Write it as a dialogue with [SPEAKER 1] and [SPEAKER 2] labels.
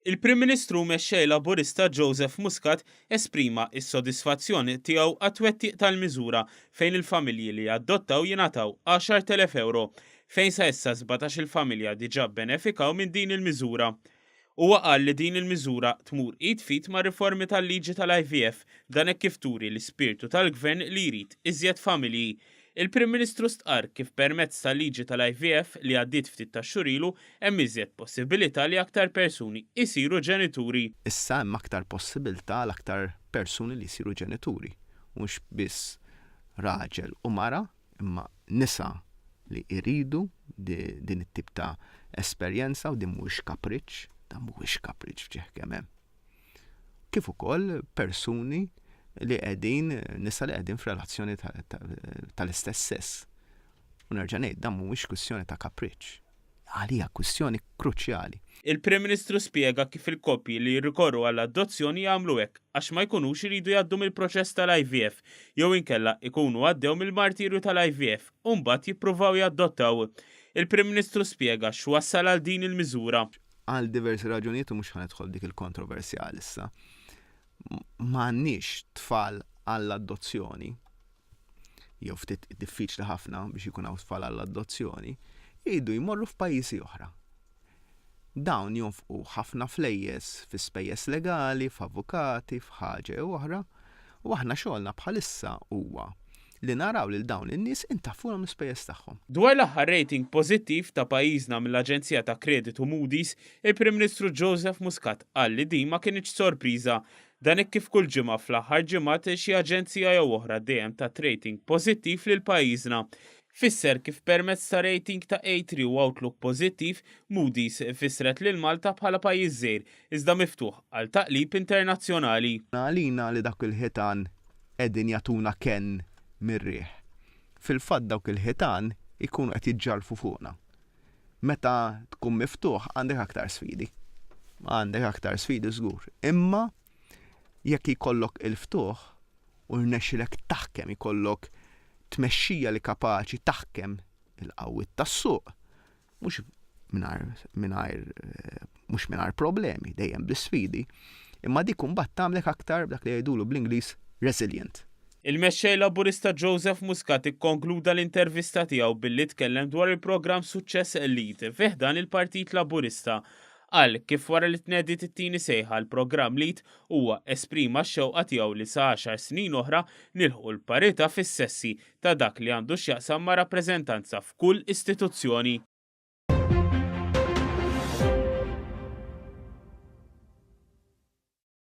[SPEAKER 1] Il-Prim Ministru mexxej Laburista Joseph Muscat esprima s-sodisfazzjon tiegħu għat-twettiq tal-miżura fejn il-familji li jaddottaw jingħataw 10,000 euro, fejn sa issa 17-il familja diġà bbenefikaw minn din il-miżura. Huwa qal li din il-miżura tmur id f'id mar-riformi tal-liġi tal-IVF, dan hekk kif turi l-ispirtu tal-Gvern li jrid iżjed familji. Il-Prim Ministru stqarr kif permezz tal-liġi tal-IVF li għaddiet ftit tax-xhur ilu hemm iżjed possibilità li aktar persuni jsiru ġenituri. Issa hemm aktar
[SPEAKER 2] possibilità għal aktar persuni li jsiru ġenituri, mhux biss raġel u mara, Imma nisa li jridu din it-tip ta' esperjenza u din mhuwiex kapriċċ, dan mhuwiex kapriċċ f'ġieħ kemm hemm. Kif ukoll persuni li qegħdin nisa li qegħdin f'relazzjoni tal-istess sess. U nerġa' ngħid dan mhuwiex kwistjoni ta' kapriċċ. għalija kwistjoni kruċjali. Il-Prim Ministru
[SPEAKER 1] spjega kif il-koppji li jirrikorru għal adozzjoni jagħmlu hekk għax ma jkunux iridu jgħaddu mill-proċess tal-IVF jew inkella jkunu għaddew mill-martirju tal-IVF u mbagħad jippruvaw jadottaw. Il-Prim Ministru spjega x'wassal għal din il-miżura. Għal diversi
[SPEAKER 2] raġunijiet u mhux ħa nidħol f'dik il-kontroversja għalissa, m'għandniex tfal għall-adozzjoni. jew ftit diffiċli ħafna biex ikun hawn tfal għall-adozzjoni, jridu jmorru f'pajjiżi oħra. Dawn jonfqu ħafna flejjes fi spejjeż legali, f'avukati, f'ħaġa jew oħra, u aħna xogħolna bħalissa huwa li naraw lil dawn in-nies intaffulhom l-ispejjeż tagħhom. Dwar l-aħħar rating
[SPEAKER 1] pożittiv ta' pajjiżna mill-aġenzija ta' kreditu Moody's, il-Prim Ministru Joseph Muscat qal li din ma kinitx sorpriża Dan hekk kif kull ġimgħa fl-aħħar ġimgħat xi aġenzija jew oħra dejjem tat rating pożittiv lil pajjiżna. Fisser kif permezz ta' rating ta' A3 u outlook pożittiv, Moody's fissret lil Malta bħala pajjiż żgħir iżda miftuħ għal taqlib internazzjonali. Għalina li dawk
[SPEAKER 2] il-ħitan qegħdin jagħtuna kenn mir-riħ. Fil-fatt dawk il-ħitan ikunu qed jiġġarrfu fuqna. Meta tkun miftuħ għandek aktar sfidi. Għandek aktar sfidi żgur. Imma jekk jkollok il-ftuħ u rnexxilek taħkem ikollok tmexxija li kapaċi taħkem il-qawwiet tas-suq, mhux mingħajr mhux mingħajr problemi, dejjem bi sfidi, imma dik imbagħad tagħmlek aktar dak li jgħidulu bl-Ingliż resilient. Il-Mexxej
[SPEAKER 1] Laburista Joseph Muscat ikkonkluda l-intervista tiegħu billi tkellem dwar il-programm Suċċess Lead fi ħdan il-Partit Laburista. Qal kif wara li tnediet it-tieni sejħa l-programm Lead huwa esprima x-xewqa tiegħu li sa għaxar snin oħra nilħqu l-parità fis-sessi ta' dak li għandu x'jaqsam ma' rappreżentanza f'kull istituzzjoni.